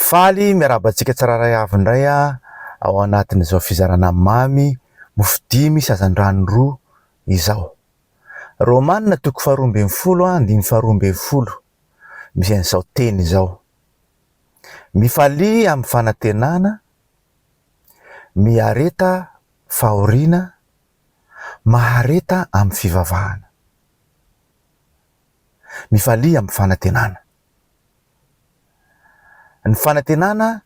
Faly miarahaba antsika tsirairay avy indray ao anatin'izao fizarana mamy mofo dimy sazandrano roa izao. Romana toko faharoa ambin'ny folo andininy faharoa ambin'ny folo misy an'izao teny izao, Mifalia amin'ny fanantenana, miareta fahoriana, mahareta amin'ny fivavahana. Mifalia amin'ny fanantenana. Ny fanantenana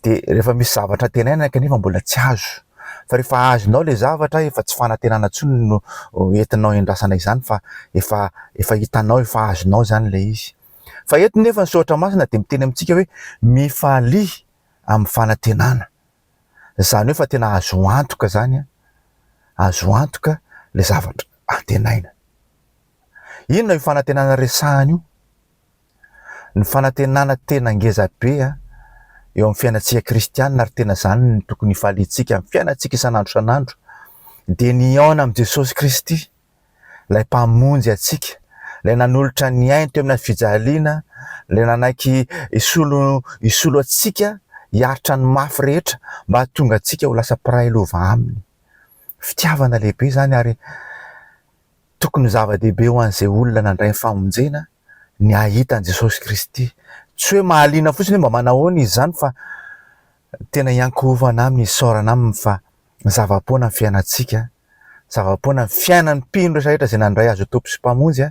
dia rehefa misy zavatra antenaina kanefa mbola tsy azo, fa rehefa azonao ilay zavatra efa tsy fanantenana intsony no entinao iandrasana izany fa efa efa hitanao, efa azonao izany ilay izy. Fa eto nefa ny soratra masina dia miteny amintsika hoe mifalia amin'ny fanantenana, izany hoe efa tena azo antoka izany an, azo antoka ilay zavatra antenaina. Inona io fanantenana resahina io? Ny fanantenana tena ngeza be eo amin'ny fiainantsika kristiana ary tena izany no tokony hifaliantsika amin'ny fiainantsika isan'andro isan'andro dia ny hihaona amin'i Jesosy Kristy, ilay Mpamonjy antsika, ilay nanolotra ny ainy teo amin'ny fijaliana, ilay nanaiky hisolo hisolo antsika hiaritra ny mafy rehetra mba hahatonga antsika ho lasa mpiray lova aminy. Fitiavana lehibe izany ary tokony ho zava-dehibe ho an'izay olona nandray ny famonjena ny hahita an'i Jesosy Kristy. Tsy hoe mahaliana fotsiny hoe mba manahoana izy izany fa tena hiankohofana aminy, hisaorana aminy fa zava-poana ny fiainantsika, zava-poana ny fiainan'ny mpino rehetra rehetra izay nandray azy ho Tompo sy Mpamonjy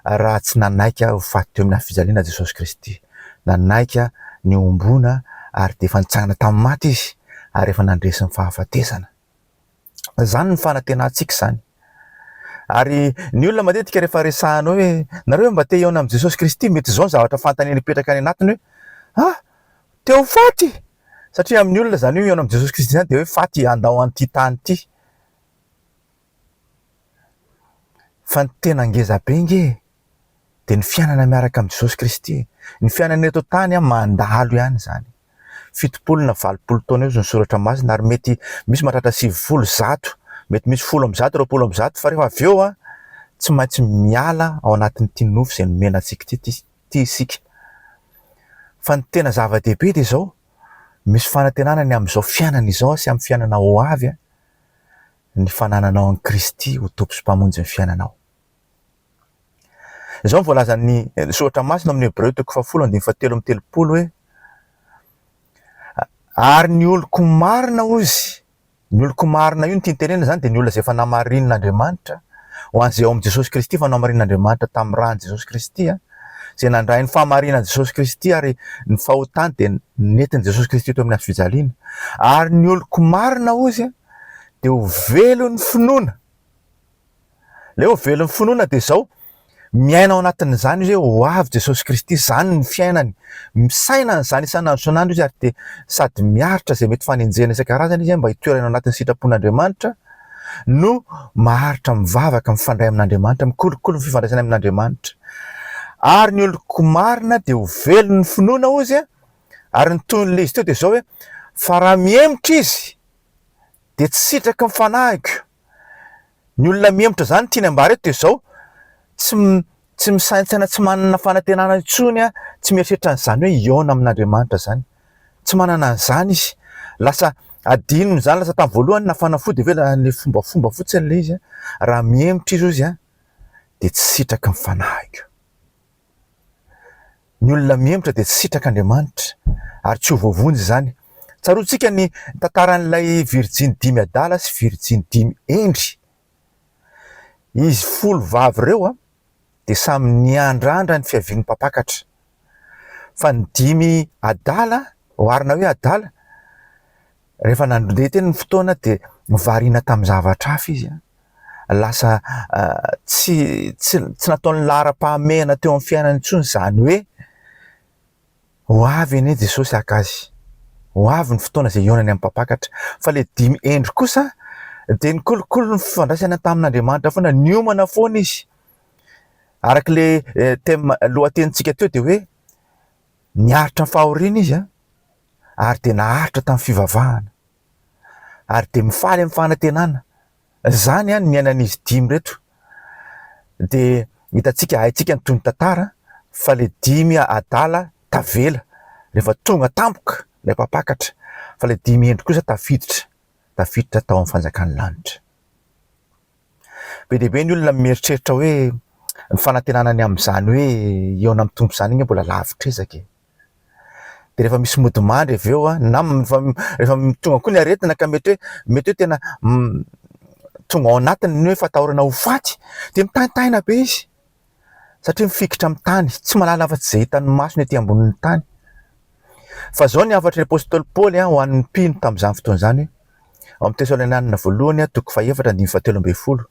raha tsy nanaiky ho faty teo amin'ny hafijaliana Jesosy Kristy. Nanaiky ny homboana ary dia efa nitsangana tamin'ny maty izy ary efa nandresy ny fahafatesana. Izany ny fanantenantsika izany. Ary ny olona matetika rehefa resahana hoe nareo mba te hihaona amin'i Jesosy Kristy, mety izao ny zavatra fantany mipetraka any anatiny hoe, ha! te ho faty! Satria amin'ny olona izany hoe hihaona amin'i Jesosy Kristy izany dia hoe faty handao an'ity tany ity. Fa ny tena ngeza be ange e! dia ny fiainana miaraka amin'i Jesosy Kristy. Ny fiainana eto an-tany an, mandalo ihany izany. Fitopolo na valopolo taona eo izy no Soratra Masina ary mety misy mahatratra sivifolo, zato, mety misy folo amby zato, roapolo amby zato fa rehefa avy eo an, tsy maintsy miala ao anatin'ity nofo izay nomena antsika ity ity ity isika. Fa ny tena zava-dehibe dia izao, misy fanantenana ny amin'izao fiainana izao sy amin'ny fiainana ho avy an, ny fanananao an'i Kristy ho Tompo sy Mpamonjy ny fiainanao. Izao no voalazan'ny soratra masina ao amin'ny Hebreo toko fahafolo andininy fahatelo amby telopolo hoe, Ary ny oloko marina hozy, ny oloko marina io ny tiany tenenina izany dia ny olona izay efa namarinin'Andriamanitra, ho an'izay ao amin'i Jesosy Kristy efa namarinin'Andriamanitra tamin'ny ran'i Jesosy Kristy, izay nandray ny fahamarinan'i Jesosy Kristy ary ny fahotany dia nentin'i Jesosy Kristy teo amin'ny hazo fijaliana. Ary ny oloko marina hozy dia ho velon'ny finoana. Ilay ho velon'ny finoana dia izao, miaina ao anatin'izany izy hoe ho avy Jesosy Kristy, izany ny fiainany. Misaina an'izany isan'andro isan'andro izy ary dia sady miaritra izay mety fanenjehana isan-karazany izy mba hitoerany ao anatin'ny sitrapon'Andriamanitra no maharitra mivavaka, mifandray amin'Andriamanitra, mikolokolo ny fifandraisany amin'Andriamanitra. Ary ny oloko marina dia ho velon'ny finoana hozy a! Ary ny tohin'ilay izy teo dia izao hoe, fa raha mihemotra izy dia tsy sitraky ny fanahiko. Ny olona mihemotra izany tiany ambara eto dia izao, tsy tsy misaintsaina tsy manana fanantenana intsony, tsy mieritreritra an'izany hoe hihaona amin'Andriamanitra izany. Tsy manana an'izany izy. Lasa adinony izany, lasa tamin'ny voalohany na fanafody ve na ilay fombafomba fotsiny ilay izy. Raha mihemotra izy hozy dia tsy sitraky ny fanahiko. Ny olona mihemotra dia tsy sitraka Andriamanitra ary tsy ho voavonjy izany. Tsaroantsika ny tantaran'ilay virjiny dimy adala sy virjiny dimy hendry. Izy folo vavy ireo dia samy niandrandra ny fiavian'ny Mpampakatra. Fa ny dimy adala, oharina hoe adala, Rehefa nandre teny ny fotoana dia variana tamin'ny zavatra hafa izy. Lasa tsy tsy tsy nataony laharam-pahamehana teo amin'ny fiainany intsony izany hoe ho avy anie Jesosy haka azy, ho avy ny fotoana izay hihaonany amin'ny mpampakatra. Fa ilay dimy hendry kosa dia ny kolikoly ny fifandraisana tamin'Andriamanitra foana, niomana foana izy. Araka ilay thème lohatenintsika teo dia hoe niaritra ny fahoriana izy an. ary dia naharitra tamin'ny fivavahana ary dia mifaly amin'ny fanantenana izany ny miainan'izy dimy ireto dia hitantsika haintsika ny tohin'ny tantara fa ilay dimy adala tavela rehefa tonga tampoka ilay mpampakatra fa ilay dimy hendry kosa tafiditra tafiditra tao amin'ny fanjakan'ny lanitra be dia be ny olona mieritreritra hoe ny fanantenana ny amin'izany hoe hihaona amin'ny tompo izany anie mbola lavitra ezaka e de rehefa misy mody mandry avy eo an, na rehefa tonga koa ny aretina ka mety hoe mety hoe tena tonga ao anatiny ny hoe fatahorana ho faty dia mitaintaina be izy satria mifikitra amin'ny tany, tsy mahalala afa-tsy izay hitan'ny masony ety ambonin'ny tany. Fa izao ny hafatry ny apostoly Paoly an, ho an'ny mpino tamin'izany fotoana izany, ao amin'ny Tesalonianina voalohany an, toko fahefatra, andininy fahatelo ambin'ny folo,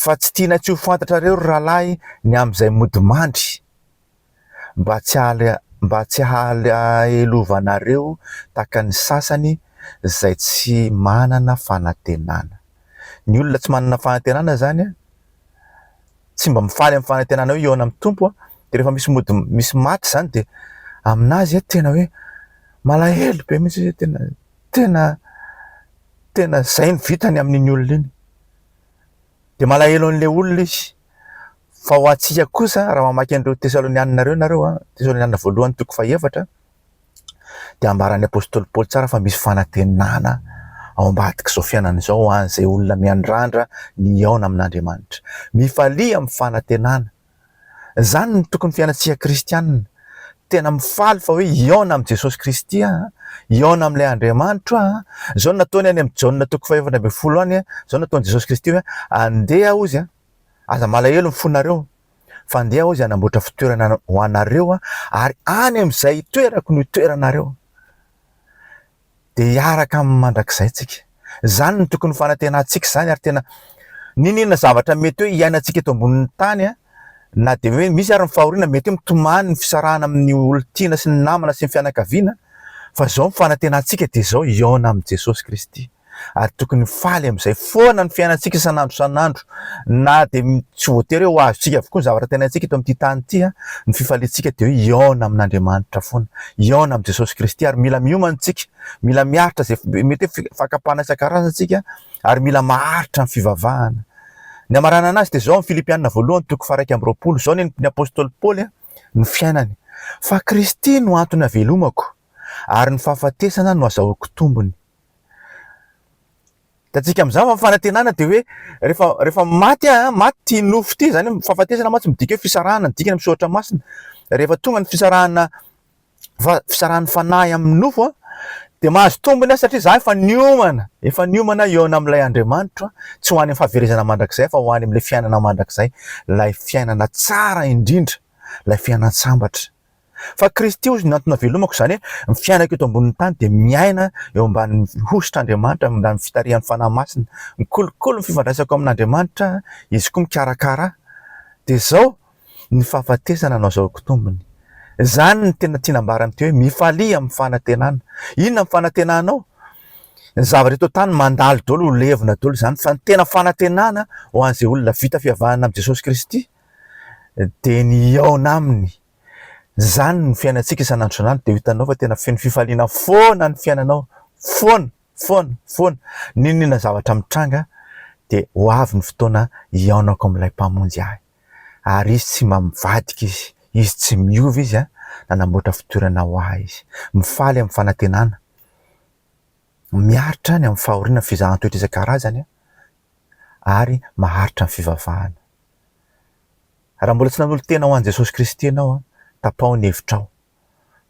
fa tsy tianay tsy ho fantatrareo ry rahalahy ny amin'izay mody mandry, mba tsy mba tsy hahalelovanareo tahaka ny sasany izay tsy manana fanantenana. Ny olona tsy manana fanantenana izany an, tsy mba mifaly amin'ny fanantenana hoe hihaona amin'ny Tompo an, dia rehefa misy mody misy maty izany dia amin'azy an tena hoe malahelo be mihitsy izy, tena tena tena izay no vitany amin'iny olona iny. Dia malahelo an'ilay olona izy. Fa ho antsika kosa, raha mamaky an'ireo Tesalonianina ireo ianareo, Tesalonianina voalohany toko fahefatra, dia ambaran'ny apostoly Paoly tsara fa misy fanantenana ao ambadik'izao fiainana izao ho an'izay olona miandrandra ny hihaona amin'Andriamanitra. Mifalia amin'ny fanantenana. Izany no tokony fiainantsika kristiana. Tena mifaly fa hoe hihaona amin'i Jesosy Kristy aho, hihaona amin'ilay Andriamanitro aho. Izao no nataony any amin'ny Jaona toko fahefatra ambin'ny folo any, izao no nataon'i Jesosy Kristy hoe, andeha hozy, aza malahelo ny fonareo, fa andeha hozy hanamboatra fitoerana ho anareo aho, ary any amin'izay hitoerako no hitoeranareo. dia hiaraka aminy mandrakizay tsika. Izany no tokony ho fanantenantsika izany ary tena n'inon'inona zavatra mety hoe hiainantsika eto ambonin'ny tany na dia hoe misy ary ny fahoriana mety hoe mitomany ny fisarahana amin'ny olon-tiana sy ny namana sy ny fianakaviana fa izao ny fanantenantsika dia izao hihaona amin'i Jesosy Kristy ary tokony ho faly amin'izay foana ny fiainantsika isan'andro isan'andro Na dia tsy voatery hoe ho azontsika avokoa ny zavatra tenaintsika eto amin'ity tany ity, ny fifaliantsika dia hoe hihaona amin'Andriamanitra foana, hihaona amin'i Jesosy Kristy. Ary mila miomana isika, mila miaritra izay, mety hoe fi- fakam-panahy isan-karazany isika, ary mila maharitra ny fivavahana. Ny hamaranana azy dia izao, amin'ny Filipianina voalohany, toko faha-iraika amby roapolo, izao ny ny apostoly Paoly ny fiainany, Fa Kristy no antony havelomako, ary ny fahafatesana no azahoako tombony. Hitantsika amin'izany fa ny fanantenana dia hoe rehefa rehefa maty aho, maty ity nofo ity, izany hoe fahafatesana mantsy midika hoe fisarahana ny dikany amin'ny soratra masina. Rehefa tonga ny fisarahana fa- fisarahan'ny fanahy amin'ny nofo aho, dia mahazo tombony aho satria izaho efa niomana, efa niomana aho hihaona amin'ilay Andriamanitra, tsy ho any amin'ny fahaverezana mandrakizay fa ho any amin'ilay fiainana mandrakizay, ilay fiainana tsara indrindra, ilay fiainan-tsambatra. Fa Kristy hozy no antony havelomako, izany hoe ny fiainako eto ambonin'ny tany dia miaina eo ambanin'ny hosotr'Andriamanitra, eo ambanin'ny fitarihan'ny Fanahy Masina. Mikolokolo ny fifandraisako amin'Andriamanitra, Izy koa mikarakara ahy. Dia izao ny fahafatesana no azahoako tombony. Izany no tena tiana ambara amin'ity hoe mifalia amin'ny fanantenana. Inona ny fanantenanao? Ny zavatra eto an-tany mandalo daholo, ho levona daholo izany, fa ny tena fanantenana ho an'izay olona vita fivavahana amin'i Jesosy Kristy, dia ny hihaona aminy. Izany ny fiainantsika isan'andro dia hitanao fa tena feno fifaliana foana ny fiainanao, foana, foana, foana. N'inon'inona zavatra mitranga dia ho avy ny fotoana hihaonako amin'ilay Mpamonjy ahy. Ary Izy tsy mba mivadika Izy, Izy tsy miova Izy an, nanamboatra fitoerana ho ahy Izy. Mifaly amin'ny fanantenana, miaritra any amin'ny fahoriana, fizahan-toetra isan-karazany ary maharitra ny fivavahana. Raha mbola tsy nanolo-tena ho an'i Jesosy Kristy ianao, tapaho ny hevitrao,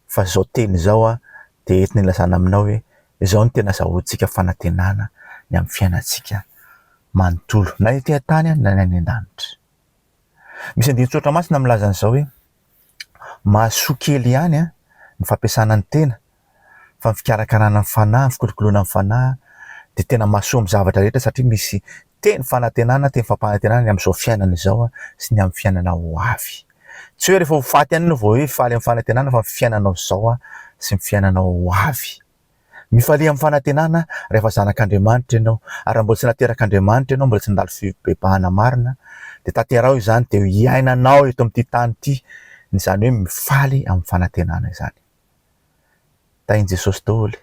fa izao teny izao dia entina ilazana aminao hoe izao no tena azahoantsika fanantenana ny amin'ny fiainantsika manontolo, na ety an-tany na ny any an-danitra. Misy andinin-tsoratra masina milaza an'izao hoe, Mahasoa kely ihany ny fampiasana ny tena, fa ny fikarakarana ny fanahy, ny fikolokoloana ny fanahy dia tena mahasoa amin'ny zavatra rehetra, satria misy Teny fanantenana, teny fampanantenana ny amin'izao fiainana izao sy ny amin'ny fiainana ho avy. Tsy hoe rehefa ho faty ihany ianao vao hoe hifaly amin'ny fanantenana fa ny fiainanao izao sy ny fiainanao ho avy. Mifalia amin'ny fanantenana rehefa zanak'Andriamanitra ianao ary raha mbola tsy naterak'Andriamanitra ianao, mbola tsy nandalo fibebahana marina dia tanteraho izany dia hiainanao eto amin'ity tany ity izany hoe mifaly amin'ny fanantenana izany. Tahin'i Jesosy daholo e!